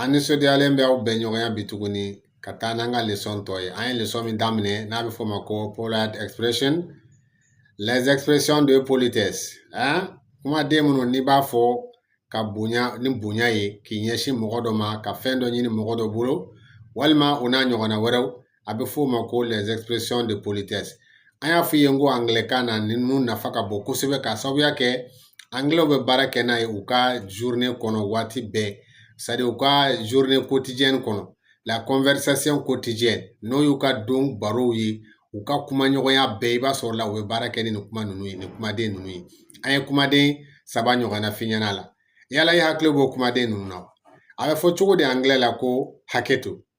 an nisɔndiyalen bɛ aw bɛn ɲɔgɔnya bi tuguni ka taa n'an ka lesɔn tɔ ye an ye lesɔn min daminɛ n'a bɛ f'o ma ko polite expression les expressions de politesse hein? kumaden minnu n'i b'a fɔ ka bonya ni bonya ye k'i ɲɛsin mɔgɔ dɔ ma ka fɛn dɔ ɲini mɔgɔ dɔ bolo walima o n'a ɲɔgɔnna wɛrɛw a bɛ f'o ma ko les expressions de politesse an y'a f'i ye n ko angilɛkan na ninnu nafa ka bon kosɛbɛ k'a sababuya kɛ angilɛw bɛ baara kɛ n'a ye u ka journée kɔnɔ waati bɛɛ c'est-à-dire u ka journée quotidienne kɔnɔ la conversation quotidienne n'o y'u ka don barow ye u ka kumaɲɔgɔnya bɛɛ i b'a sɔrɔ la u bɛ baara kɛ ni nin kuma ninnu ye nin kumaden ninnu ye an ye kumaden saba ɲɔgɔnna f'i ɲɛna la yala i hakili b'o kumaden ninnu na a bɛ fɔ cogo di angilɛ la ko hakɛ to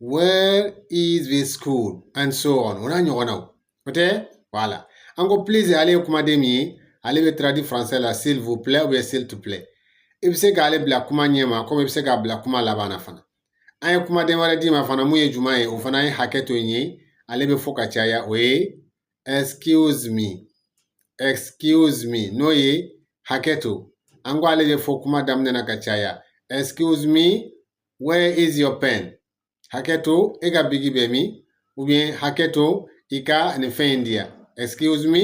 where is the school and so on o n'a ɲɔgɔnnaw o tɛ voilà an ko please ale ye kumaden min ye ale bɛ traduit français la s'il vous plaît ou bien s'il te plaît i bɛ se k'ale bila kuma ɲɛ ma komi i bɛ se k'a bila kuma laban na fana an ye kumaden wɛrɛ d'i ma fana mun ye jumɛn ye o fana ye hakɛ to ye ale bɛ fɔ ka caya o ye excuse me excuse me n'o ye hakɛ to an ko ale bɛ fɔ kuma daminɛ na ka caya excuse me where is your pen hakɛ to e ka bigi bɛ min ou bien hakɛ to i ka nin fɛn in di yan excuse me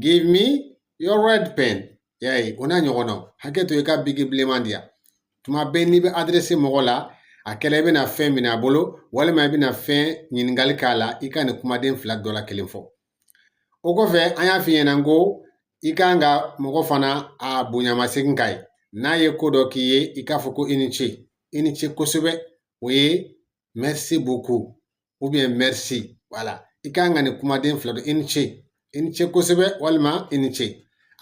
give me your red pen y'a ye o n'a ɲɔgɔnna hakɛ to i ka bigi bilenman di yan tuma bɛɛ n'i bɛ adresse mɔgɔ la a kɛla i bɛna fɛn minɛ a bolo walima i bɛna fɛn ɲininkali k'a la i ka nin kumaden fila dɔ la kelen fɔ O kɔfɛ an y'a f'i ɲɛna ko i kan ka mɔgɔ fana a bonyamasegin k'a ye n'a ye ko dɔ k'i ye i k'a fɔ ko i ni ce i ni ce kosɛbɛ o ye merci beaucoup ou bien merci voilà i kan ka nin kumaden fila dɔn i ni ce i ni ce kosɛbɛ walima i ni ce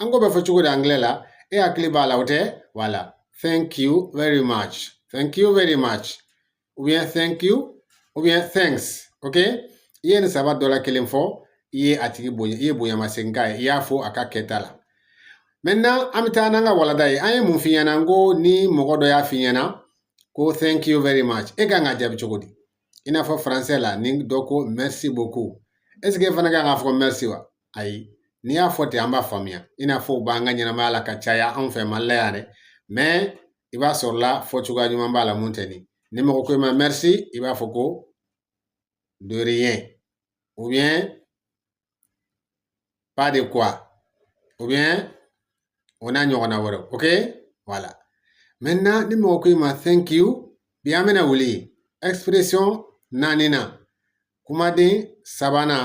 an k'o bɛ fɔ cogo di angilɛ la e hakili b'a la o tɛ voilà thank you very much thank you very much ou bien thank you ou bien thanks ok i ye nin saba dɔ la kelen fɔ i ye a tigi bonya i ye bonyamasegin k'a ye i y'a fo a ka kɛta la maintenant an bɛ taa n'an ka walanda ye an ye mun f'i ɲɛna n ko ni mɔgɔ dɔ y'a f'i ɲɛna ko thank you very much e kan ka jaabi cogo di i n'a fɔ français la ni dɔ ko merci beaucoup est-ce que e fana kan k'a fɔ merci wa ayi n'i y'a fɔ ten an b'a faamuya i n'a fɔ u b'an ka ɲɛnamaya la ka caya anw fɛ mali la yan dɛ mais i b'a sɔrɔ la fɔcogoya ɲuman b'a la mun tɛ nin ni mɔgɔ ko i ma merci i b'a fɔ ko de rien ou bien pas de quoi ou bien o n'a ɲɔgɔnna wɛrɛ ok voilà maintenant ni mɔgɔ ko i ma thank you bi an bɛna wuli expression naaninan kumaden sabanan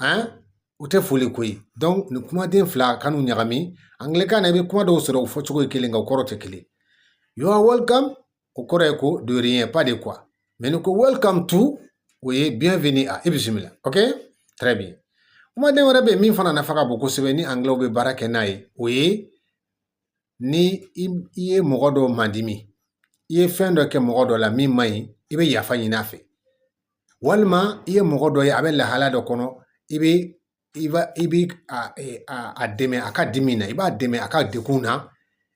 hein, o tɛ foli ko ye donc nin kumaden fila kan'u ɲagami angilɛkan na i bɛ kuma dɔw sɔrɔ u fɔcogo ye kelen nka u kɔrɔ tɛ kelen you are welcome o kɔrɔ ye ko de rien pas de quoi mais n'i ko welcome to o ye bienvenue à i bisimila ok très bien kumaden wɛrɛ bɛ yen min fana nafa ka bon kosɛbɛ ni anglais bɛ baara kɛ n'a ye o ye ni i ye mɔgɔ dɔ madimi i ye fɛn dɔ kɛ mɔgɔ dɔ la min man ɲi i bɛ yafa ɲini a fɛ walima i ye mɔgɔ dɔ ye a bɛ lahala dɔ kɔnɔ i bɛ i b'a i bɛ a dɛmɛ a ka dimi na i b'a dɛmɛ a ka degun na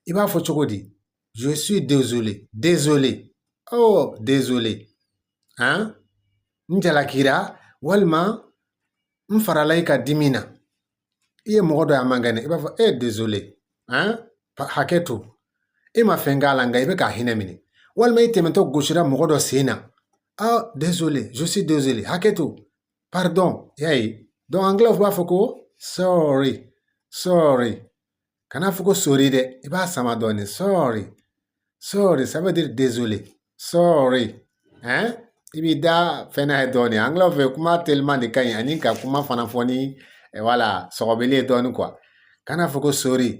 i b'a fɔ cogo di je suis désolé désolé oh désolé han n jalakira walima n farala i ka dimi na i ye mɔgɔ dɔ ye a man kɛnɛ i b'a fɔ e désolé hakɛ to i ma fɛn k'a la nka i bɛ k'a hinɛ minɛ walima i tɛmɛtɔ gosira mɔgɔ dɔ sen na a désolé je suis désolé hakɛ to pardon y'a ye donc angilɛw b'a fɔ ko sorry sorry Kana fɔ ko sori dɛ i b'a sama dɔɔnin sorry sorry ça veut dire désolé sorry hein i b'i da fɛn n'a ye dɔɔnin angilɛw fɛ kuma teliman de ka ɲi ani ka kuma fana fɔ ni eh, voilà sɔgɔbɛli ye dɔɔnin quoi kana fɔ ko sori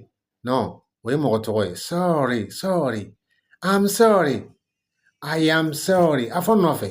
non o ye mɔgɔ tɔgɔ ye sorry sorry I'm sorry I am sorry a fɔ n nɔfɛ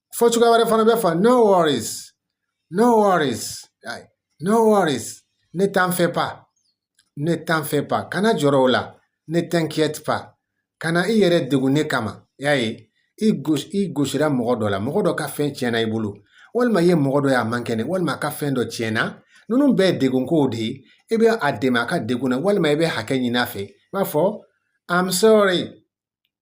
fɔ cogoya wɛrɛ fana bɛ fɔ no worries no worries no worries ne t'en fais pas ne t'en fais pas kana jɔrɔ o la ne t'inquiète pas kana i yɛrɛ degun ne kama y'a ye i gosi i gosira mɔgɔ dɔ la mɔgɔ dɔ ka fɛn tiɲɛna i bolo walima i ye mɔgɔ dɔ ye a man kɛnɛ walima a ka fɛn dɔ tiɲɛna ninnu bɛɛ ye degunkow de ye i bɛ a dɛmɛ a ka degun na walima i bɛ hakɛ ɲini a fɛ i b'a fɔ i'm sorry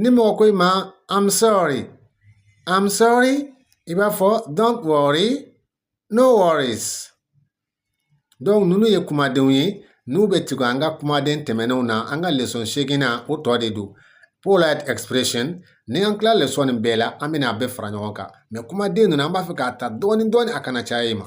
ni mɔgɔ ko i ma I'm sorry I'm sorry i b'a fɔ don't worry no worries donc ninnu ye kumadenw ye n'u bɛ tugu an ka kumaden tɛmɛnenw na an ka leçon seegin na o tɔ de don polite expression ni an tila leçon nin bɛɛ la an bɛna a bɛɛ fara ɲɔgɔn kan mais kumaden ninnu an b'a fɛ k'a ta dɔɔni dɔɔni a kana caya i ma